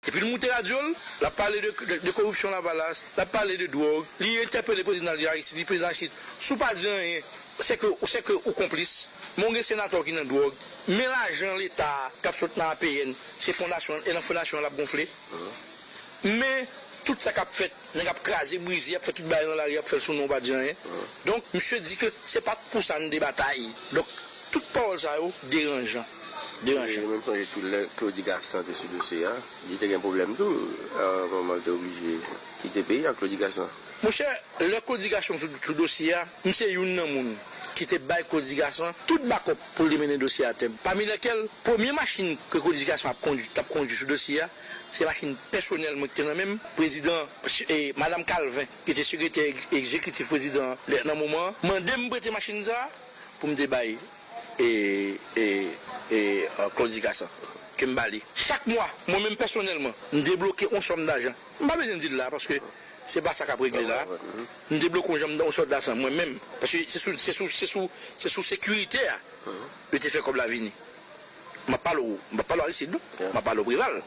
Epi l moute radyo l, l ap pale de koripsyon lavalas, l ap pale de dwòg, li entèpele prezidan l di Aristid, li di prezidan Aristid, si w pa di anyen, se ke ou konplis, men w gen senatè w ki nan dwòg, men lajan leta a k ap sot nan APN, se fondasyon, e nan fondasyon an l ap gonfle, men tout sa k ap fèt, nèg ap kraze brize, y ap fè tout bagay nan lari, y ap fè l sou non w pa di anyen. Donk, misye di ke se pa t pou sa n te batay. Donk, tout pawòl sa yo deranjan. deranjan. Mwen sonje tou lè Claudy Gassant te sou dosye a, li te gen pwoblèm tou, yon moman li te oblije kite peyi a, Claudy Gassant. Monchè, lè Claudy Gassant te sou dosye a, m se youn nan moun ki te bay Claudy Gassant tout bakòp pou l te mennen dosye a atèm. Pami lèkèl, premye machin ke Claudy Gassant ap kondui, t ap kondui sou dosye a, se machin pèsonèl mwen ki te nan men m, prezidan, Madam Calvin ki te sekretè egzekitif prezidan an nan moman an, mande m prete machin sa a pou m te bay. e, e, e Claudy Gassant ke m ba li. Chak mwa, mwen menm pèsonèlman, m debloke yon sòm dajan. M pa bezwen di l la a paske se pa sa k ap regle la a. M debloke yon sòm dajan mwen menm paske se sou, se sou, se sou, se sou sekirite a yo te fè kòb la vini. M ap pale w, m pa pale w Aristide non, m ap pale w Preval.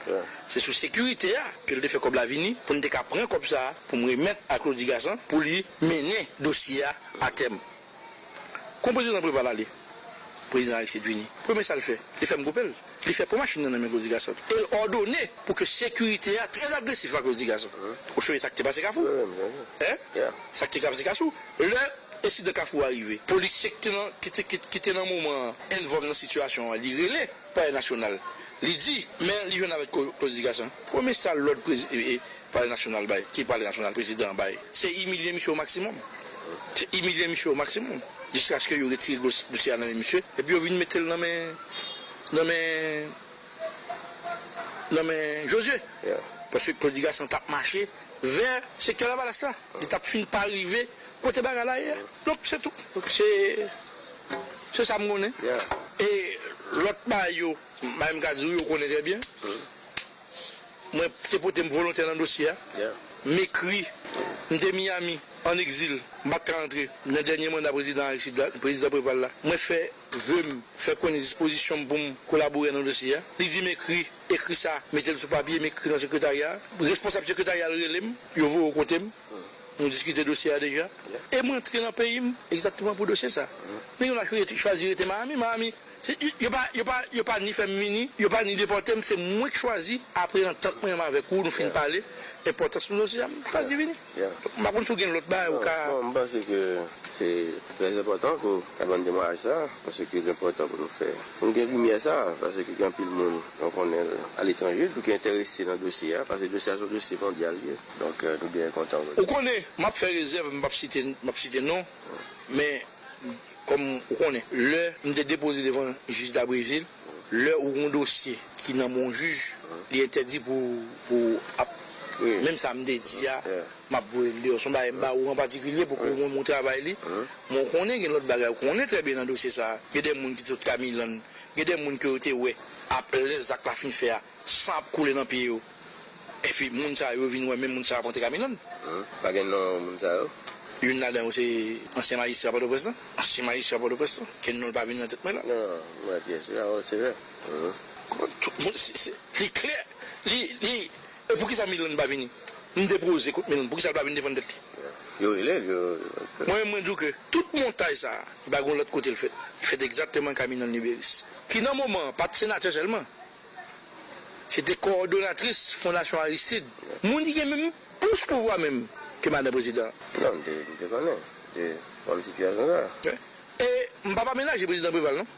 Se sou sekirite a ke l te fè kòb la vini pou n te ka pran kòb sa a pou m remèt a Claudy Gassant pou li mennen dosye a a tèm. Kon prezidan Preval ale, prezidan Aristide vini. Premye sa l fè, li fèm koupe l. Li fè pran machin nan nan men Claudy Gassant e l òdone pou ke sekirite a trè agresif a Claudy Gassant. Ou sonje sa k te pase Kafou? Hein? Sa k te pase Kasou? Lè ensidan Kafou a rive, polisye ki te nan moman an envòlv nan sitiyasyon an, li rele. Palè Nasyonal, li di, men li jwenn avèk klodifikasyon. Premye sal lòd Palè Nasyonal bay, ki Palè Nasyonal prezidan an bay, se imilye misye o maksimòm. Se imilye misye o maksimòm, jiskaske yo retire dosye a nan men misye, epi yo vin mete l nan men, nan men, nan men Jozye. Paske klodifikasyon t ap mache vè sektè Lavalas la. Li t ap fin pa rive kote bagay la ye a. Donk se tou. Se Se sa m konnen. E lòt bagay yo, bagay m ka di ou yo, ou konnen trè byen. Mwen te pote m volontè nan dosye a. M ekri. M te Miyami, ann egzil. M pa t ka antre. Nan dènye manda prezidan Aristide la, prezidan Preval la, mwen fè ve m, fè konnen dispozisyon m pou m kolaborè nan dosye a. Li di m ekri. Ekri sa, mete l sou papye, m ekri nan sekretarya a. Responsab sekretarya a rele m, yo voye w kote m. Nou diskite dosye a deja e m rantre nan peyi m egzakteman pou dosye sa. Nèg yo nan chwazi rete Miami, Miami yo pa ni fè m vini, yo pa ni depòte m, se mwen k chwazi apre antant mwen avèk ou nou fin pale enpòtans nou dosye a m chwazi vini. M pa konn si w gen lòt bagay ou ka. Bon, m panse ke se trè enpòtan ke w ta ban m temwayaj sa paske l enpòtan pou nou fè pou nou gen limyè sa paske gen anpil moun mwen konnen aletranje tou ki enterese nan dosye a paske dosye a se yon dosye mondyal li ye. Don kè tou genyen kontan wè. Ou konnen map fè rezèv m pap site map site non men kòm ou konnen lè m te depoze devan jij Dabrezil lè ou gon dosye ki nan men yon jij li entèdi pou pou ap menm sa m te di a map voye l deyò son bagay m ba ou an patikilye pou ke mwen m ou travay li men ou konnen gen lòt bagay ou konnen trè byen nan dosye sa gen de moun ki te sot kamilann gen de moun ke yo te wè ap lè zak la fin fè a. San ap koule nan pye yo. Epi moun sa yo vin wè menm moun sa ap antre Camilon. Pa gen non moun sa yo? Youn ladan yo se ansyen majistra Pòtoprens lan. Ansyen majistra Pòtoprens lan. Ke non l pa vini nan tèt mwen la. Non, m wè pyès yo la. O, se vre. Konprann? Tout moun, se, li klè. Li, li, e pou ki sa Milon pa vini? M depoze kont Milon. Pou ki sa l pa vini defann tèt li? Yo rele l, yo. Mwen menm mwen di w ke tout montaj sa a, li pa gen yon lòt kote l fèt. Li fèt egzakteman Camilon Libérus. Ki nan moman an, pa t senatè sèlman. Se te kowòdonatris Fondasyon Aristid. Moun ki gen menm plis pouvwa menm ke madan prezidan. Non, m te, m te konnen. M te konn ti Pyè Gangaa. E m pa pa menaje prezidan Preval non.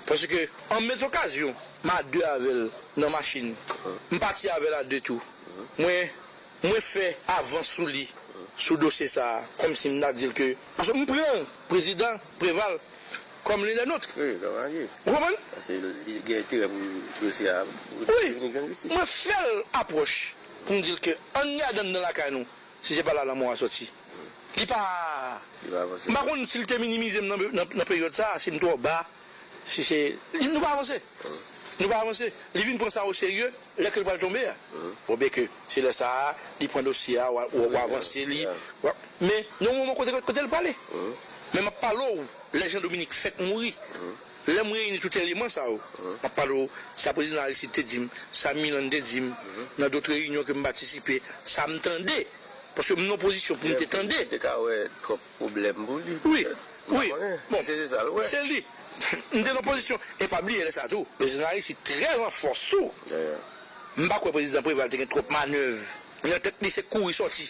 Paske an met okazyon, m a de avè l nan machin. M pati avè l a de tou. Mwen. Mwen fè avans sou li, sou dosye sa a, kòmsi m ta di l ke, paske m pran prezidan Preval kòm l'un des nôtres. Wi, kòm alye. Ou konprann? Paske li gen enterè pou dosye a vini jwenn jistis. Wi, mwen fè l apwòch pou m di l ke ann gade anndan lakay nou, si se pa la lanmò a sòti. Li pa. Li pa avanse. M pa konn si l te minimize m nan peryòd sa a, si m twò ba. Si se Nou pa avanse Nou pa avanse Li vin pran sa o serye lè ke l pral tonbe a Bon byen ke se lè sa a li pran dosye a w avanse li Men gen yon moman kote l prale Men m ap pale w lè Jean Dominique fèk mouri Lè m reyini tout eleman sa yo M ap pale w sa prezidan Aristide te di m sa Milann te di m nan dot reyinyon ke m patisipe sa m tande Paske m nan yon pozisyon pou m te tande Li te ka wè twòp pwoblèm pou li petèt Wi bon se li m te nan pozisyon e pa bliye lè sa tou prezidan Larisi trè an fòs tou m pa kwè prezidan Preval te gen twòp manèv nan tèt li se kouri sòti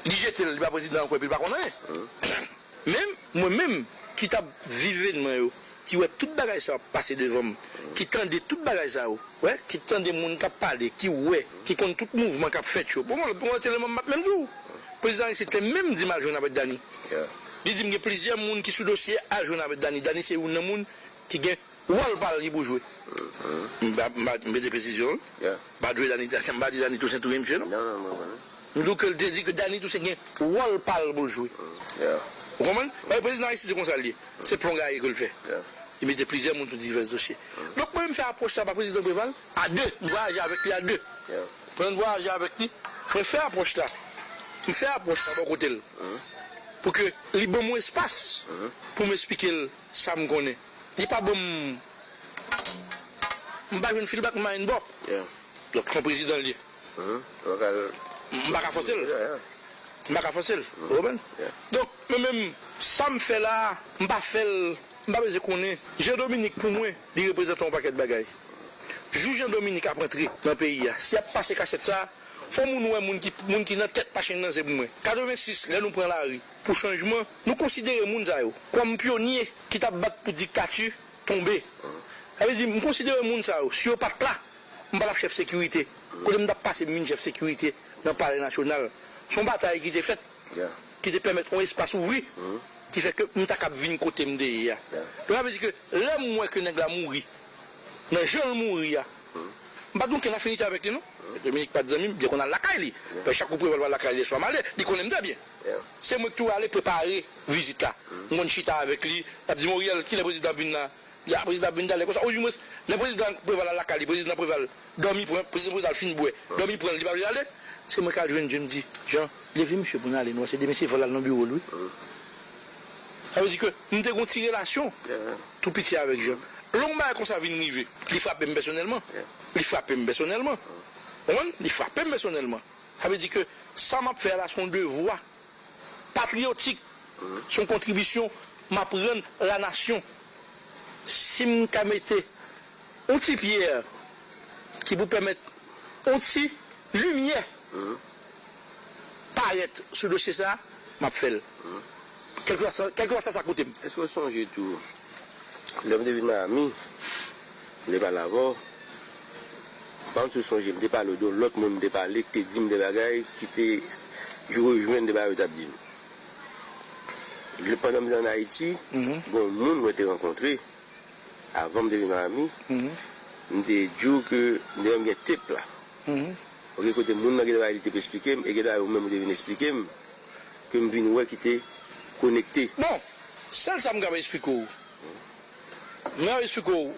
li jete l li pa prezidan ankò epi l pa konn anyen men mwen menm ki t ap viv evènman yo. ki wè tout bagay sa yo ap pase devan m, ki tande tout bagay sa yo, wè, ki tande moun k ap pale, ki wè, ki konn tout mouvman k ap fèt yo. Bon, m wè tèlman m ap menm di w, prezidan Aristide te menm di m al jwenn avèk Dany. Li di m gen plizyè moun ki sou dosye al jwenn avèk Dany. Dany se youn nan moun ki gen wòl pa l ki pou jwe. M pa mete presizyon l. M pa jwe Dany, m pa di Dany Tousen touye misye non. M di w ke l te di ke Dany Tousen gen wòl pa l pou l jwe. Ou konprann? Paske prezidan Aristide se konsa l ye. Se plon gaye ke l fè. Li mete plizyè moun sou divès dosye. Donk mwen menm m fè apwòch la pa prezidan Preval. A de. M vwayaje avèk li a de. Pandan n vwayaje avèk li, mwen fè apwòch la. M fè apwòch la bò kote l pou ke li ban m yon espas pou m esplike l sa m konnen. Li pa ban m. M pa jwenn feedback m pa jwenn bò. Donk son prezidan l ye. M pa ka fòse l. M pa ka fòse l. Ou konprann? Donk, mwen menm, sa m fè la a, m pa fè l, m pa bezwen konnen. Jean Dominique pou mwen, li reprezante yon pakèt bagay. Jou Jean Dominique ap antre nan peyi a, si y ap pase kachèt sa a, fò moun wè moun ki moun ki nan tèt machin nan se pou mwen. 86, lè nou pran lari pou chanjman, nou konsidere moun sa yo kòm pyonye ki t ap bat pou diktati tonbe. Sa vle di, m konsidere moun sa yo, si yo pa t la, M pa t ap chèf sekirite. Kote m t ap pase m vin chèf sekirite nan Palè Nasyonal. Se yon batay ki te fèt, ki te pèmèt yon espas ouvri ki fè ke m ta kab vin kote m te ye a. Donk sa vle di ke lè m wè ke nèg la mouri nan jan l mouri a, m pa t gen okenn afinite avèk li non. Pè Dominik pa t zanmi m. M te konn al lakay li. Pè Chakou preval pral lakay li lè swa m ale. Li konnen m trè byen. Se mwen ki toujou ale prepare vizit la. M konn chita avèk li. L ap di m, Oriel, kilè prezidan ap vin la? Ya prezidan ap vin talè konsa ou di mwens lè prezidan preval al lakay li prezidan preval dòmi pran prezidan preval fin bwè dòmi pranl li pa vle ale se mwen kal jwenn jem di jan leve misye poun ale nou wè se demen se vol al nan birol wi sa vle di ke nou te gon ti relasyon tou piti avèk jan lè yon bagay konsa vin rive li frapem pèsonèlman li frapem pèsonèlman ou konprann li frapem pèsonèlman sa vle di ke sa map fè a la son devwa. Patriyotik se yon kontribisyon m ap rann la nasyon. Si m ka mete yon ti pyè ki pou pèmèt yon ti limyè parèt sou dosye sa a, m ap fè l. Kèlkeswa sa sa koute m. Èske w sonje tou, lè m te vin Mayami, m te pale avè w, Banm sou sonje m te pale w de yon lòt moun m te pale k te di m de bagay ki te jou yo jwenn de bagay yo t ap di m lè pandan m te an Ayiti gen yon moun mwen te rankontre avan m te vin Miami m te di w ke m te menm gen tape la ok kote moun nan gen de bagay li te p esplike m e gen de bagay ou menm ou te vin esplike m ke m vin wè ki te konekte. Bon! Sèl sa m kapab esplike w m kapab esplike w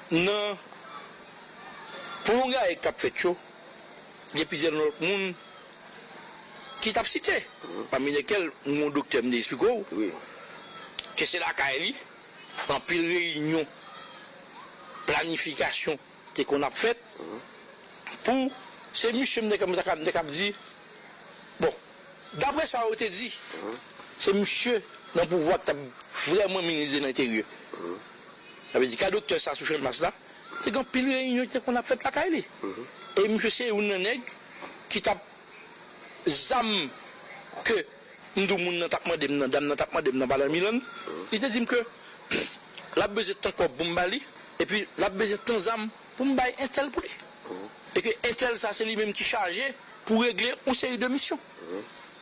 Nan pwolongay k ap fèt yo, gen plizyè lòt moun ki t ap site, pami lèkèl m gen yon doktè m te esplike w ke se lakay li anpil reyinyon planifikasyon te konn ap fèt pou se misye m te kab di bon daprè sa yo te di se misye nan pouvwa ki t ap vrèman minis de lenteryè. Sa vle di ka doktè sa sou Channmas la te gen anpil reyinyon ki te konn ap fèt lakay li. E misye se youn nan nèg ki t ap zam ke m di w moun nan t ap mande m nan, dam nan t ap mande m nan pandan mil an. Li te di m ke l ap bezwen tan kòb pou m ba li epi l ap bezwen tan zam pou m bay entèl pou li. E ke entèl sa se li menm ki chaje pou regle yon seri de misyon.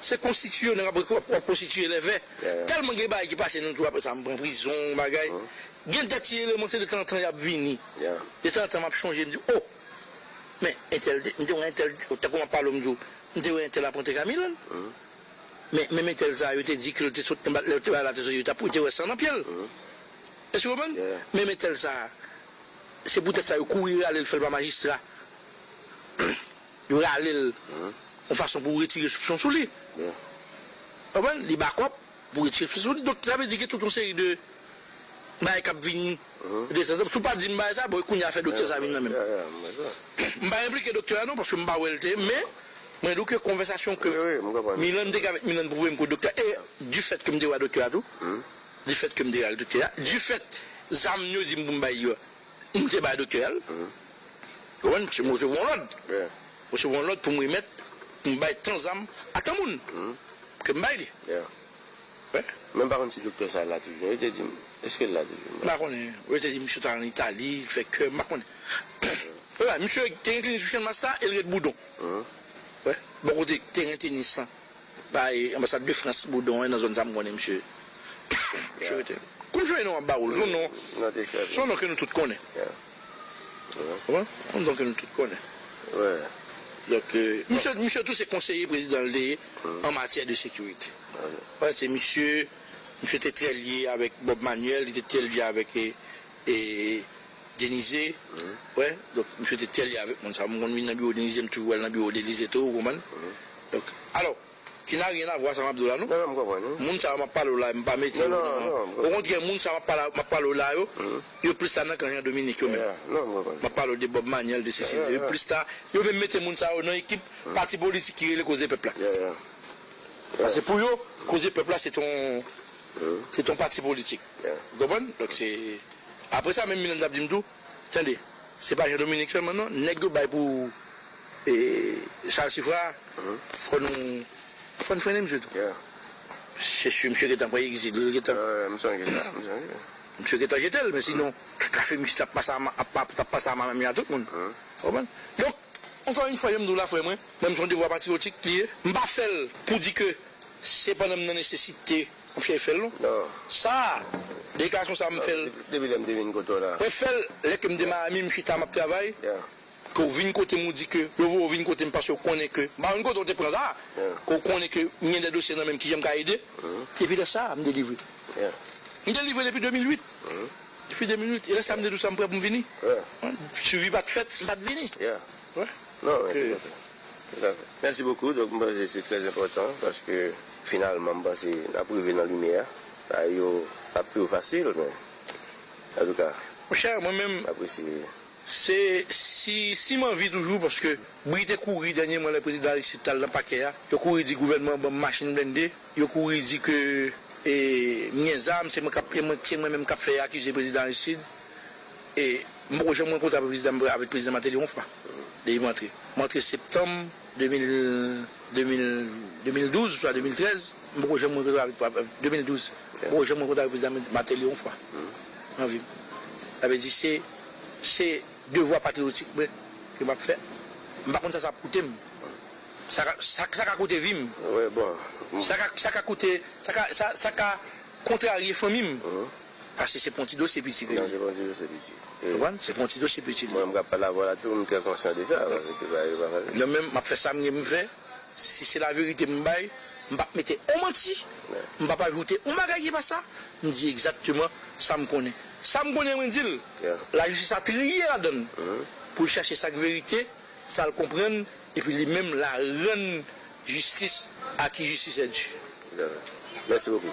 Se konstitiye w nan wap wap konstitiye lè vè tèlman gen bagay ki pase nou tou aprè sa m pran prizon yon bagay gen dè ti eleman se de tan an tan yap vini de tan an tan map chonje m di oh men entèl te m te wè entèl tankou map pale w m di w m te wè entèl ap antre kay Milann men menm entèl sa yo te di ke l te sot anba lè yo te bay latrice yo te wè san nan pye l èske w konprann menm entèl sa se poutèt sa yo kouri rale l fè l pa majistra. Yo rale l yon fason pou retire soupson sou li. Ou konprann? Li bakòp pou retire soupson sou li. Donk sa vle di gen tout yon seri de bagay k ap vini de tan zan tan. Si w pa di m bagay sa, bon e kounye a fè doktè sa vin nan menm? M pa enplike doktè a non paske m pa wè l te men mwen di w ke konvèsasyon ke Milan m te gen avèk Milan pwouve m ke doktè e di fèt ke m te wè doktè a tou di fèt ke m te ale doktè a di fèt zam yo di m pou m bay yo M te bay doktè a l. Ou konprann? Paske mwen resevwa yon lòd. Mwen resevwa yon lòd pou m remèt, pou m bay tan zam a tan moun. Ke m bay li. Men m pa konn si doktè sa la toujou non. Yo te di m. Eske l la toujou? M pa konnen. Yo te di m misye t al an Itali, l fè kè. M pa konnen. Misye te gen klinik sou Channmas la e l ret Boudon. Bò kote teren tenis lan. Bay anbasad de France boudon en nan zone sa m konnen misye misye rete Kom jwenn non ap ba wol son non son non ke nou tout konnen ou konprann son non ke nou tout konnen donk misye misye tou se konseye prezidan l te ye an matyè de sekirite ou konprann se misye misye te trè lye avek Bob Manuel li te trè lye avek E Denize wè donk misye te tèlye avèk moun sa. M konn vin nan biwo Denize m toujou al nan biwo Denize tou ou konprann. Donk alò ki nan ryen avwa sa map di w la non. Non non m konprann wi. Moun sa yo map pale w la yo m pa mete yo nan. Non non. O kontrè moun sa yo map pale w la yo, yo plis ta nan kan Jean Dominique yo menm. Non m konprann. Map pale w de Bob Maniel de sesi de yo plis ta yo menm mete moun sa yo nan ekip pati politik ki rele koze pèp la. Pase pou yo koze pèp la se t on se t on pati politik. Ou konprann? Donk se Apre sa menm Miranda ap di m tou, Tande, se pa Jean Dominique sèlman non, nèg yo bay pou Charles Suffrard a, fò nou fò n frennen misye tou. Se si misye gentan pran egzil, l gentan. M sonje sa, m sonje. Misye gentan jete l, men sinon, tout Lafemis t ap pase ama, t ap pase ama menm jan ak tout moun. Ou konprann? Donk. Ankò yn fwa janm diw la frè mwen menm son devwa patriotik li ye m pa fèl pou di ke se pandan m nan nesesite m fye fèl non sa deklarasyon sa m fèl depi lèm te vin kote w la mwen fèl lè ke m te Miami m chita map travay ke w vin kote m ou di ke yo voye w vin kote m paske w konnen ke m pa konn kote w te pran sa ke w konnen ke m gen de dosye nan menm kijan m ka ede. Depi lè sa a, m delivre. M delivre depi 2008. Depi 2008. E lè sa a m te di w sa m prè pou m vini. Suivi pa t fèt, m pa t vini. Mèsi bokou. Donk m panse se trè enpòtan paske finalman m panse n ap rive nan limyè. Bagay yo p ap toujou fasil men antouka m apresye. Se si si m anvi toujou paske bri te kouri dènyèman lè prezidan Aristide t al nan pakè a, yo kouri di gouvènman an ban m machin blende, yo kouri di ke e m gen zam, se mwen k ap e mwen se mwen menm k ap fè akize prezidan Aristide e m poko janm rankontre avèk prezidan avèk prezidan Martelly yon fwa depi m antre. M antre septanm 2000 2000 2012 oswa 2013, m poko janm rankontre avèk 2012, m poko janm rankontre avèk prezidan Martelly yon fwa nan vi m. Sa vle di se. Se devwa patriyotik mwen ke map fè. M pa konn sa sa ap koute m. Sa ka, sa ka koute vi m. Sa ka, sa ka koute, sa ka, sa, sa ka kontrarye fanmi m. Pase se pou yon ti dosye piti ke li ye. Se pou yon ti dosye piti. Ou konprann? Se pou yon ti dosye piti li ye. Mwen menm kap pale avè w la tou, m trè konsyan de sa. Paske se pa, se pa fasil. Mwen menm map fè sa m gen pou m fè. Si se la verite m bay, m pap mete on manti, m pap ajoute on bagay ki pa sa, m di egzakteman sa m konnen. Sa m konnen mwen di l, lajistis a triye ladan l pou l chache sa k verite, sa l konprann epi li menm la rann jistis a ki jistis è di. Mèsi bokou.